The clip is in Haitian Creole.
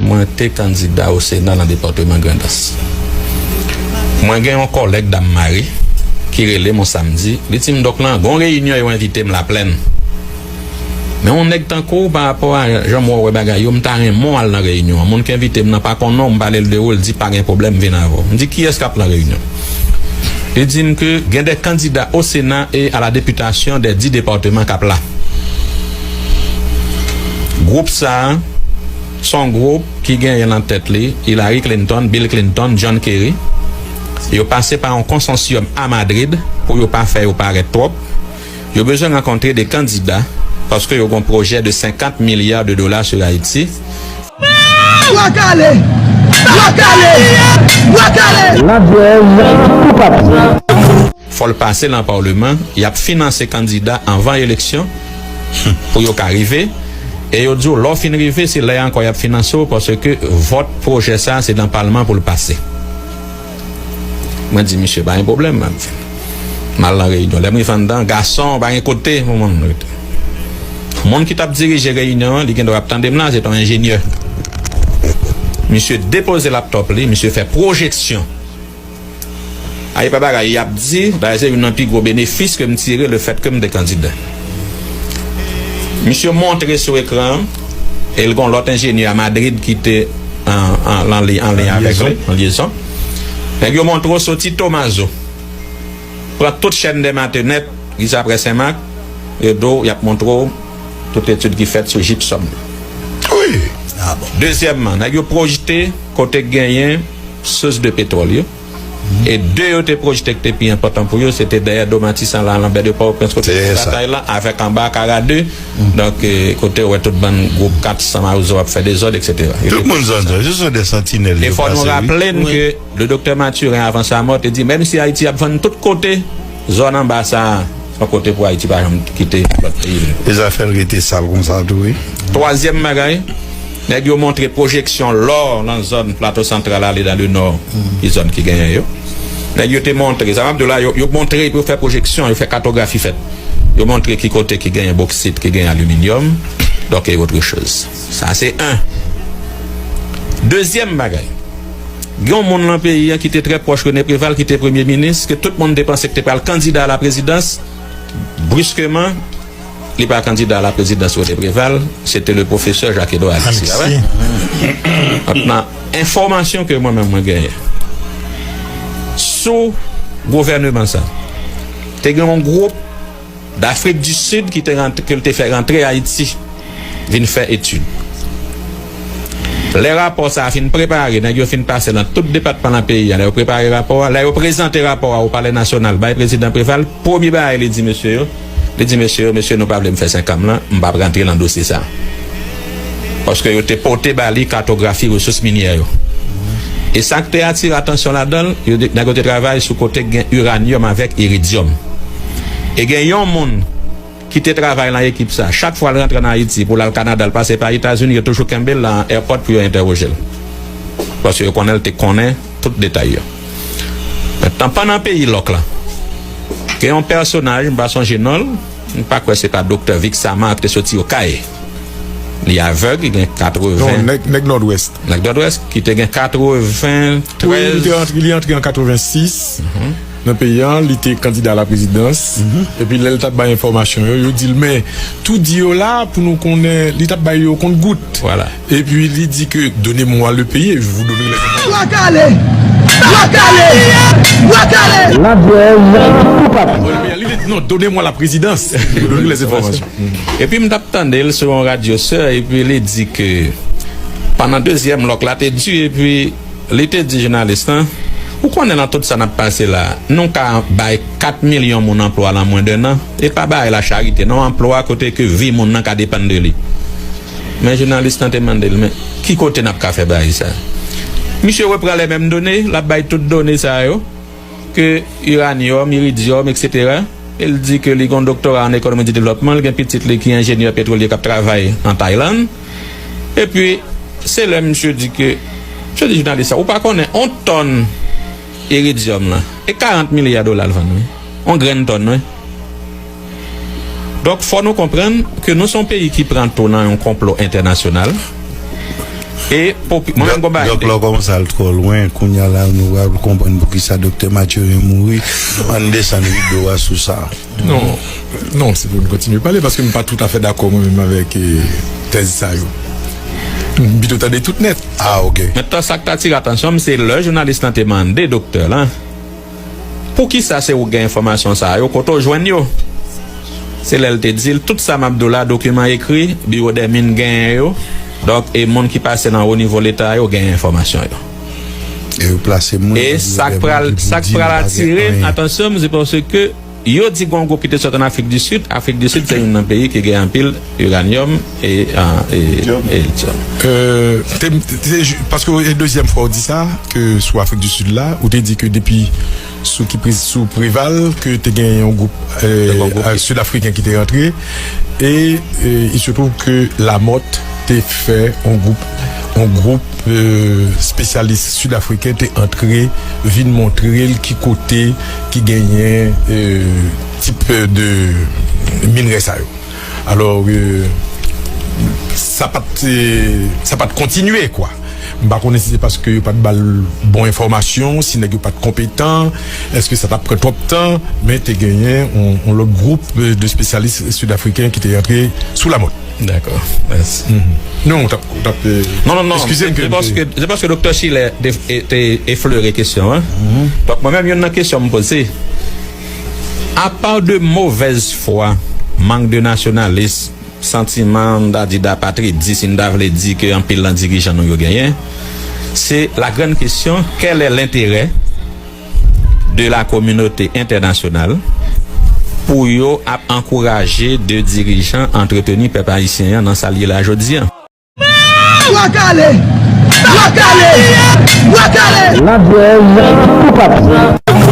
Mwen te kandida o Sena nan depatman Grandans. Mwen gen yon kòlèg dam mare ki rele m on samdi, li di m, Dòk lan, gen yon reyinyon yo envite m Laplèn. Men yon nèg tankou w, parapò a jan mwen wè bagay yo, m ta renmen w al nan reyinyon an. Moun ki envite m nan pa konnen w, m pale l de ou, li di, Pa gen pwoblèm, m vin avè w. M di, Kiyès k ap lan reyinyon an? Li di m ke gen de kandida o Sena e a la depitasyon de di depatman k ap la. Gwoup sa a se yon gwoup ki genyen nan tèt li Hillary Clinton, Bill Clinton, John Kerry. Yo pase pa yon konsansyòm a Madrid pou yo pa fè yo parèt twòp. Yo bezwen rankontre 2 kandida paske yo gen yon pwojè de 50 milya de dola sou Ayiti. Ladjèz tou pati. Fò l pase nan paleman, y ap finanse kandida anvan eleksyon humm pou yo ka rive e yo di w lè w fin rive se lè a ankò y ap finanse w paske vòt pwojè sa se nan palman pou l pase. Mwen di misye pa gen pwoblèm m ap vin m al nan reyinyon lè m rive anndan gason pa gen kote pou moun rete moun ki t ap dirije reyinyon an li gen dwa ap tande m la se t on enjenyè misye depoze laptòp li misye fè pwojeksyon Ay epa bagay yap di bagay se youn nan pi gwo benefis ke m tire le fèt ke m te kandida. Misye montre sou ekran an e l gon lòt enjenyè a Madrid ki te an lyen avèk li, an lyezon. Nèg yo montre w soti Tomazo, pran tout chèn dè Matenèt, rive aprè Senmak, yo di w yap montre w. tout etid ki fèt sou jipsòm nan. Wi! Dezyèmman, nèg yo pwojte kote k genyen sous de petwòl yo. E de yo te pwojte k te pi enpòtan pou yo, se te dèyè Do Matisan la, Lanbè de Pòwoprens kote yo fè batay la, avèk anba Akara 2, donk kote ou wè tout bann gwoup 400 mawozo ap fè dezòd, eksetera. Yo te pwojte sa. Se sou de santinèl yo pase, wi. E fò nou raple n ke le Doktè Mathurin, avan sa mò, te di menm si Ayiti ap vann tout kote, Zòn anba sa a son kote pou Ayiti pa janm kite lòt peyi vle. E sa fè l rete sal konsa tou wi. Twazyèm bagay, nèg yo montre pwojeksyon lò nan zòn Plato Santral ale nan Lenò ki zòn ki genyen yo. Nèg yo te montre, sa m ap di w la, yo montre epi yo fè pwojeksyon, yo fè katografi fèt. Yo montre ki kote ki genyen boksit, ki genyen aliminyòm, donk e otre choz. Sa se 1. Dezyèm bagay, gen yon moun lan peyi an ki te trè pwòch Rene Preval ki te premye minis, ke tout moun te panse ki te pral kandida a la prezidans, briskeman li pa kandida a la prezidans Rene Preval, se te le pwofesè Jacques Edouard Alexis, pa vre? Donk nan enfòmasyon ke mwen menm mwen genyen, sou gouvèneman sa, te gen yon gwo. Dafrik di Sid ki te rantre ke l te fè rantre Ayiti vin fè etid. Lè rapò sa a fin prepare, nèg yo fin pase nan tout depatman nan peyi a, lè yo prepare rapò a, lè yo prezante rapò a o Palè Nasyonal bay Prezidan Preval, premye bagay li di mesye yo, li di mesye yo, mesye nou pa vle m fè senkanm lan, m p ap rantre nan dosye sa a. paske yo te pote ba li katografi resous minyè yo. E sa k te atire atansyon ladan l, yo di nèg yo te travay sou kote k gen iranyòm avèk iridyòm. E gen yon moun ki te travay lan ekip sa, chak fwa l rantre ann Ayiti pou l al Kanada, l pase pa Etazini, yo toujou kenbe l lan èpòt pou yo entèwoje l, paske yo konnen l te konnen tout detay yo. Mentnan pannan peyi lòk lan, gen yon pèsonaj, m pa sonje non l, m pa kwè se pa doktè Vixamar k te soti Okay. Li avèg, li gen 80. Non, nèg Nòdwès. Nèg Nòdwès ki te gen 93. Wi, li te antre, li antre an 86 nan peyi an, li te kandida a la prezidans. Epi lè li t ap bay enfòmasyon yo, yo di l men, tout di yo la pou nou konnen, li t ap bay yo okont gout. Vwala. Epi li di ke done mwa le peye, je vou done le. Bwa kale! Bwa kale! Bwa kale! Ladwèz pou papi. Mwa le peye, li di non, done mwa la prezidans, je vou done le enfòmasyon. Epi m t ap tande l sou yon radyo sè epi li di ke pandan dezyèm lòk la te di epi li te di jounalis lan, Ou konnen lan tout sa n ap pase la, nou ka bay 4 milyon moun anplwa lan mwen denan, e pa bay la charite non, anplwa kote ke vi moun nan ka depann de li. Men jounalis lan te mande l, Men, ki kote n ap ka fè bay sa? Misye repran lè menm done, l ap bay tout done sa yo. ke iranyòm, iridyòm, eksetera. Li di ke li gen yon doktora an ekonomi di devlòpman, li gen pitit li ki enjenyè petrolye k ap travay an Taylann. Epi, se lè misye di ke, misye di jounalis sa, ou pa konnen yon tòn iridyòm lan, e 40 milya dola l vann wi, yon grenn tòn wi. Donk fò nou konprann ke nou son peyi ki pran tou nan yon konplo entènasyonal e popi mwen menm gon bagay Dòk lò kòmanse al twò lwen kounya la nou pral konprann poukisa Doktè Mathurin mouri ann desann rido a sou sa. Non, non se pou nou kontinye pale paske m pa toutafè dakò mwen menm avèk tèz sa yo. M pito tande tout nèt. Ah ok. Mentan sak t atire atansyon m se lè jounalis lan te mande doktè lan. Poukisa se ou k gen enfòmasyon sa yo? Kote w jwenn yo? Se lè l te di l, Tout sa m ap di w la, dokiman ekri, Biwo dè Min genyen yo, donk, e moun ki pase nan wo nivo Leta yo genyen enfòmasyon yo. E sa k pral atire atansyon m, se paske. Yo di gon gwo pite sot an Afrik di Sid. Afrik di Sid se youn nan peyi ki gen anpil iranyòm e lityòm. Paske e dezyèm fwa ou di sa ke sou Afrik di Sid la. Ou te di ke depi sou ki prezi sou Preval ke te gen yon gwoup Sid Afriken ki te rantre. E il se twouv ke Lamòt te fè yon gwoup yon gwoup spesyalis Sid Afriken te antre vin montre l ki kote. ki genyen tip de minrè sa yo. Alò, sa pa t, sa pa t kontinye kwa. M pa konnen si se paske yo pa t ba l bon enfòmasyon, si nèg yo pa t konpetan, èske sa t ap pran twòp tan, men te genyen yon lòt gwoup de spesyalis Sid Afriken ki te antre sou Lamòt. Dako, mèsi. Non, ou t ap. Non, non, non. Eskize m ke m te. Se paske Doktè Chilè te eflere kesyon an. Donk, mwen menm youn nan kesyon m poze, apa de movèz fwa, mank de nasyonalis, santiman, m ta di dapatridis, si n ta vle di, ke anpil nan dirijan nou yo genyen, se la grann kesyon, kèlè lenterè? de la kominote entènasyonal pou yo ap ankouraje de dirijan antreteni pèp ayisyen an nan sa l ye la jodi an. Bwa kale! Bwa kale! Bwa kale! Ladjèz toupatou.